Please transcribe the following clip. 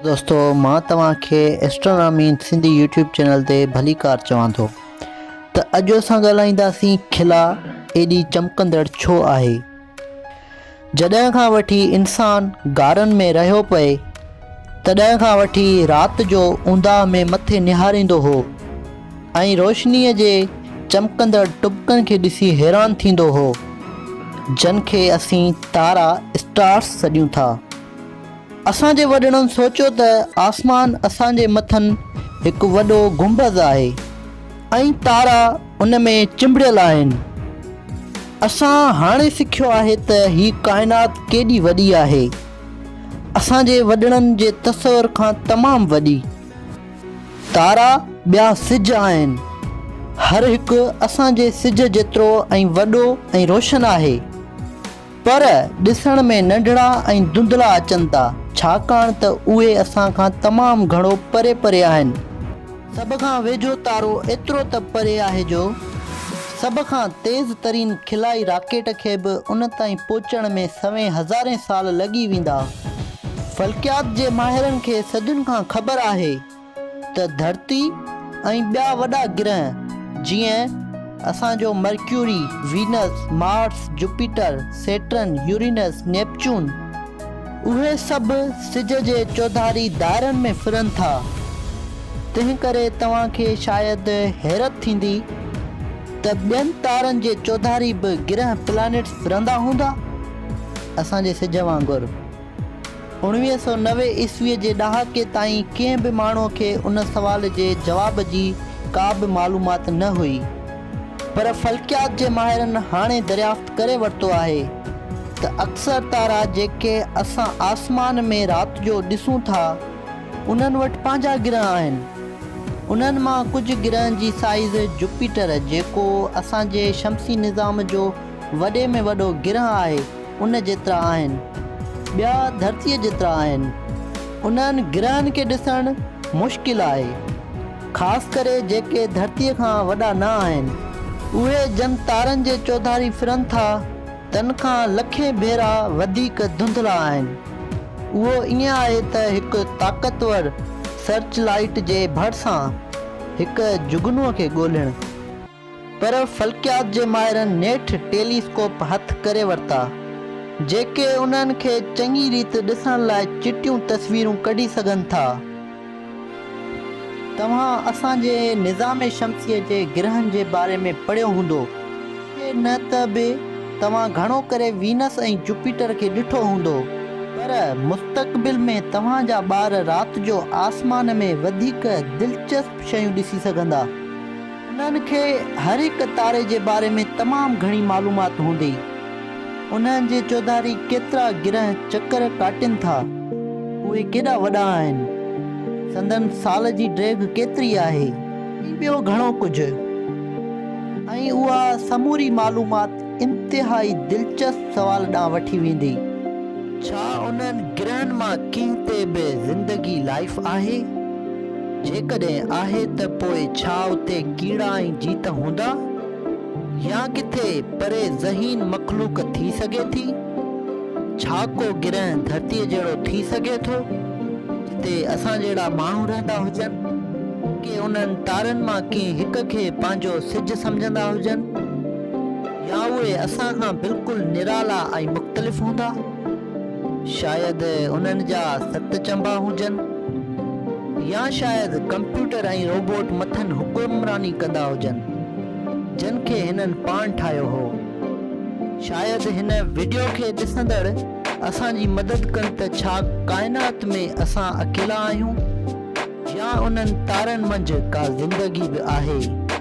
دوستو مان توهان کي astronomy in Sindhi YouTube channel تي ڀليڪار چوان ٿو ته اڄ اسان ڳالهائينداسين خلا ايڏي چمڪندڙ ڇو آهي جڏهن کان وٺي انسان غارن ۾ رهيو پئي تڏهن کان وٺي رات جو اونداهه ۾ مٿي نهاريندو هو ۽ روشني جي چمڪندڙ ٽبڪن کي ڏسي حيران ٿيندو هو جن کي اسين تارا اسٽارس سڏيون ٿا اسان جي وڏڙن سوچيو ته آسمان اسان جي مٿن هڪ وڏو گنبذ آهي ۽ تارا ان ۾ چنبڙيل آهن. اسان هاڻي سکيو آهي ته هي ڪائنات ڪيڏي وڏي آهي. اسان جي وڏڙن جي تصور کان تمام وڏي. تارا ٻيا سج آهن. هر هڪ اسان جي سج جيترو ۽ وڏو ۽ روشن آهي. پر ڏسڻ ۾ ننڍڙا ۽ ڌنڌلا اچن ٿا، ڇاڪاڻ ته اهي اسان کان تمام گهڻو پري پري آهن. سڀ کان ويجهو تارو ايترو ته پري آهي جو سڀ کان تيز ترين خلائي راڪيٽ کي به ان تائين پهچڻ ۾ سوين هزارين سال لڳي ويندا. فلڪيات جي ماهرن کي صدين کان خبر آهي ته ڌرتي ۽ ٻيا وڏا گرهه جيئن اسان جو Mercury, Venus, Mars, Jupiter, Saturn, Uranus, Neptune اهي سڀ سج جي چوڌاري دائرن ۾ ڦرن ٿا. تنهنڪري توهان کي شايد حيرت ٿيندي ته ٻين تارن جي چوڌاري به گرهه، Planets، ڦرندا هوندا اسان جي سج وانگر. اڻويهه سؤ نوي عيسوي جي ڏهاڪي تائين ڪنهن به ماڻهو کي ان سوال جي جواب جي ڪا به معلومات نه هئي پر فلڪيات جي ماهرن هاڻي دريافت ڪري ورتو آهي ته اڪثر تارا جيڪي اسان آسمان ۾ رات جو ڏسون ٿا انهن وٽ پنهنجا گرهه آهن انهن مان ڪجهه گرهن جي سائيز جوپيٽر جيڪو اسان جي شمسي نظام جو وڏي ۾ وڏو گرهه آهي ان جيترا آهن. ٻيا ڌرتيء جيترا آهن. انهن گرهن کي ڏسڻ مشڪل آهي. خاص ڪري جيڪي ڌرتيء کان وڏا نه آهن. اهي جن تارن جي چوڌاري ڦرن ٿا تن کان لکين ڀيرا وڌيڪ ڌنڌلا آهن. اهو ائين آهي ته هڪ طاقتور سرچ لائيٽ جي ڀرسان هڪ جگنوء کي ڳولهڻ. پر فلڪيات جي ماهرن نيٺ ٽيلي اسڪوپ هٿ ڪري ورتا، جيڪي انهن کي چڱي ريت ڏسڻ لاء چٽيون تصويرون ڪڍي سگهن ٿا. توهان اسان جي نظام شمسيء جي گرهن جي باري ۾ پڙهيو هوندو، جي نه ته به توهان گهڻو ڪري وينس ۽ جوپيٽر کي ڏٺو هوندو، پر مستقبل ۾ توهان جا ٻار رات جو آسمان ۾ وڌيڪ دلچسپ شيون ڏسي سگهندا. انهن کي هر هڪ تاري جي باري ۾ تمام گهڻي معلومات هوندي. انهن جي چوڌاري ڪيترا گرهه چڪر ڪاٽين ٿا. اهي ڪيڏا وڏا آهن. سندن سال جي ڊيگهه ڪيتري آهي. ۽ ٻيو گهڻو ڪجهه. ۽ اها سموري معلومات. انتهائي دلچسپ سوال ڏانهن وٺي ويندي. ڇا انهن گرهن مان ڪنهن تي به زندگي، لائيف، آهي؟ جيڪڏهن آهي ته پوء ڇا اتي ڪيڙا ۽ جيت هوندا؟ يا ڪٿي پري ذهين مخلوق ٿي سگهي ٿي؟ ڇا ڪو گرهه ڌرتيء جهڙو ٿي سگهي ٿو، جتي اسان جهڙا ماڻهو رهندا هجن؟ ڪي انهن تارن مان ڪنهن هڪ کي پنهنجو سج سمجهندا هجن؟ يا اهي اسان کان بلڪل نرالا ۽ مختلف هوندا؟ شايد انهن جا ست چنبا هجن؟ يا شايد ڪمپيوٽر ۽ روبوٽ مٿن حڪمراني ڪندا هجن، جن کي هنن پاڻ ٺاهيو هو؟ شايد هن وڊيو کي ڏسندڙ اسان جي مدد ڪن ته ڇا ڪائنات ۾ اسان اڪيلا آهيون؟ يا انهن تارن منجهه ڪا زندگي به آهي؟